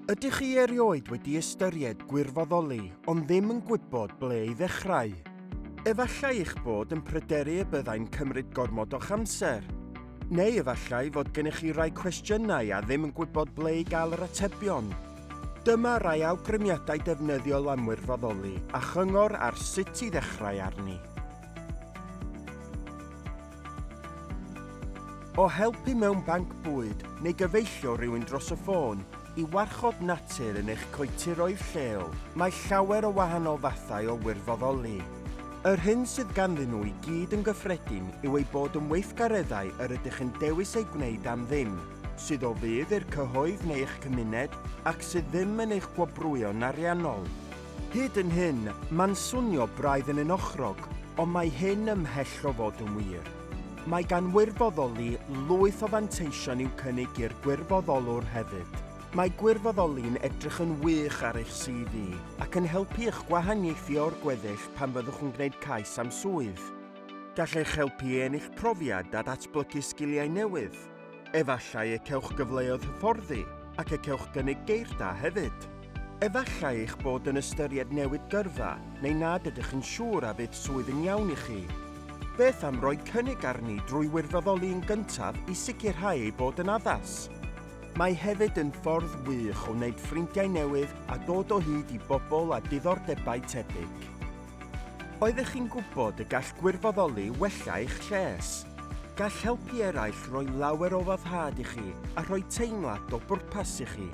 Ydych chi erioed wedi ystyried gwirfoddoli ond ddim yn gwybod ble i ddechrau? Efallai eich bod yn pryderu y byddai'n cymryd gormod o'ch amser. Neu efallai fod gennych chi rai cwestiynau a ddim yn gwybod ble i gael yr atebion. Dyma rai awgrymiadau defnyddiol am wirfoddoli a chyngor ar sut i ddechrau arni. O helpu mewn banc bwyd neu gyfeillio rhywun dros y ffôn i warchod natur yn eich coetiroedd lleol, mae llawer o wahanol fathau o wirfoddoli. Yr hyn sydd ganddyn nhw i gyd yn gyffredin yw eu bod yn weithgareddau yr ydych yn dewis eu gwneud am ddim, sydd o fudd i'r cyhoedd neu eich cymuned ac sydd ddim yn eich gwobrwyo'n ariannol. Hyd yn hyn, mae'n swnio braidd yn unochrog, ond mae hyn ymhell o fod yn wir. Mae gan wirfoddoli lwyth o fanteision i'w cynnig i'r gwirfoddolwr hefyd. Mae gwirfoddoli'n edrych yn wych ar eich CV ac yn helpu i'ch gwahaniaethu o'r gweddill pan fyddwch yn gwneud cais am swydd. Gall eich helpu i ennill profiad a datblygu sgiliau newydd. Efallai y cewch gyfleoedd hyfforddi ac y cewch gynnig geir da hefyd. Efallai eich bod yn ystyried newid gyrfa neu nad ydych yn siŵr a fydd swydd yn iawn i chi. Beth am roi cynnig arni drwy wirfoddoli yn gyntaf i sicrhau ei bod yn addas? Mae hefyd yn ffordd wych o wneud ffrindiau newydd a dod o hyd i bobl â diddordebau tebyg. Oeddech chi'n gwybod y gall gwirfoddoli wella eich lles? Gall helpu eraill roi lawer o foddhad i chi a rhoi teimlad o bwrpas i chi.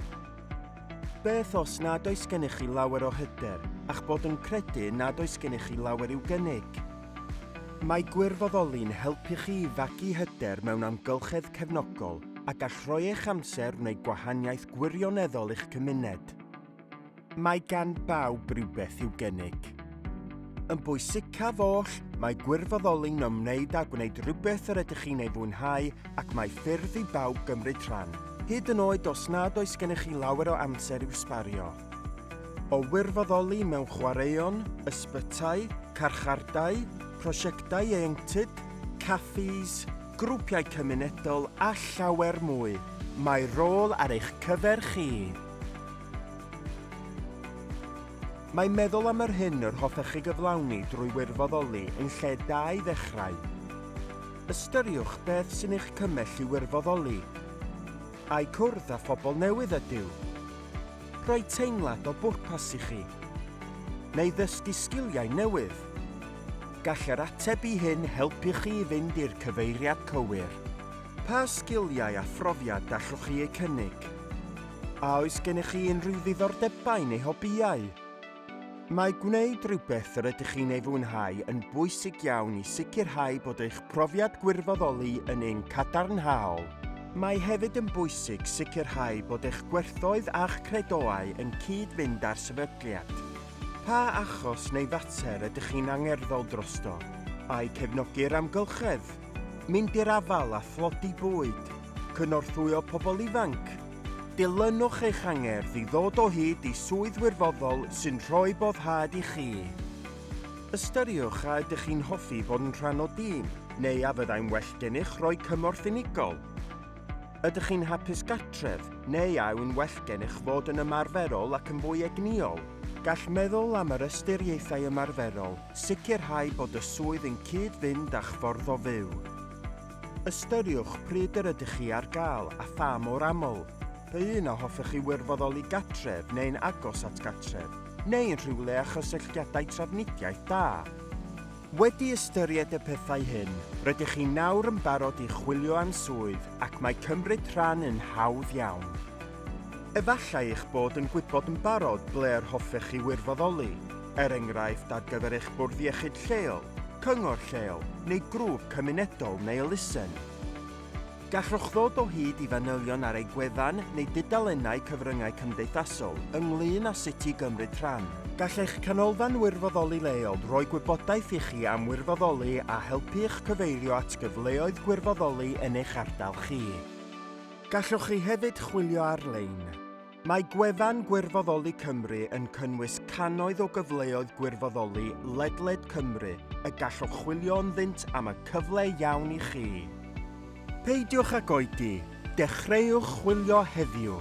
Beth os nad oes gennych chi lawer o hyder a'ch bod yn credu nad oes gennych chi lawer i'w gynnig? Mae gwirfoddoli'n helpu chi i fagu hyder mewn amgylchedd cefnogol a gall rhoi eich amser wneud gwahaniaeth gwirioneddol i'ch cymuned. Mae gan bawb rywbeth i'w gynnig. Yn bwysicaf oll, mae gwirfoddoli'n ymwneud â gwneud rhywbeth yr ydych chi'n ei fwynhau ac mae ffyrdd i bawb gymryd rhan, hyd yn oed os nad oes gennych chi lawer o amser i'w sbario. O wirfoddoli mewn chwaraeon, ysbytai, carchardai, prosiectau ieuenctid, caffis, grwpiau cymunedol a llawer mwy, mae rôl ar eich cyfer chi! Mae meddwl am yr hyn yr hoffech chi gyflawni drwy wirfoddoli yn lle da i ddechrau. Ystyriwch beth sy'n eich cymell i wirfoddoli. Ai cwrdd â phobl newydd ydyw? Rhoi teimlad o bwrpas i chi? Neu ddysgu sgiliau newydd? Gall yr ateb i hyn helpu chi i fynd i'r cyfeiriad cywir. Pa sgiliau a phrofiad gallwch chi eu cynnig? A oes gennych chi unrhyw ddiddordebau neu hobïau? Mae gwneud rhywbeth yr ydych chi'n ei fwynhau yn bwysig iawn i sicrhau bod eich profiad gwirfoddoli yn un cadarnhaol. Mae hefyd yn bwysig sicrhau bod eich gwerthoedd a'ch credoau yn cyd-fynd â'r sefydliad. Pa achos neu fater ydych chi'n angerddol drosto? Ai cefnogi'r amgylchedd? mynd i'r afael â thlodi bwyd, cynorthwyo pobl ifanc, dilynwch eich angerdd i ddod o hyd i swydd wirfoddol sy'n rhoi boddhad i chi. Ystyriwch a ydych chi'n hoffi bod yn rhan o dîm, neu a fyddai'n well gennych roi cymorth unigol. Ydych chi'n hapus gartref, neu a yw'n well gennych fod yn ymarferol ac yn fwy egnïol? Gall meddwl am yr ystyriaethau ymarferol sicrhau bod y swydd yn cyd-fynd â'ch ffordd o fyw. Ystyriwch pryd yr ydych chi ar gael a pha mor aml. Pa un a hoffech chi wirfoddoli gartref neu'n agos at gartref, neu yn rhywle â chysylltiadau trafnidiaeth da? Wedi ystyried y pethau hyn, rydych chi nawr yn barod i chwilio am swydd ac mae cymryd rhan yn hawdd iawn. Efallai eich bod yn gwybod yn barod ble yr hoffech chi wirfoddoli, er enghraifft ar gyfer eich bwrdd iechyd lleol, cyngor lleol neu grŵp cymunedol neu elusen. Gallwch ddod o hyd i fanylion ar eu gwefan neu dudalennau cyfryngau cymdeithasol ynglŷn â sut i gymryd rhan. Gall eich Canolfan Wirfoddoli leol roi gwybodaeth i chi am wirfoddoli a helpu i'ch cyfeirio at gyfleoedd gwirfoddoli yn eich ardal chi. Gallwch chi hefyd chwilio ar-lein. Mae gwefan Gwirfoddoli Cymru yn cynnwys cannoedd o gyfleoedd gwirfoddoli ledled Cymru y gallwch chwilio ynddynt am y cyfle iawn i chi. Peidiwch ag oedi, dechreuwch chwilio heddiw!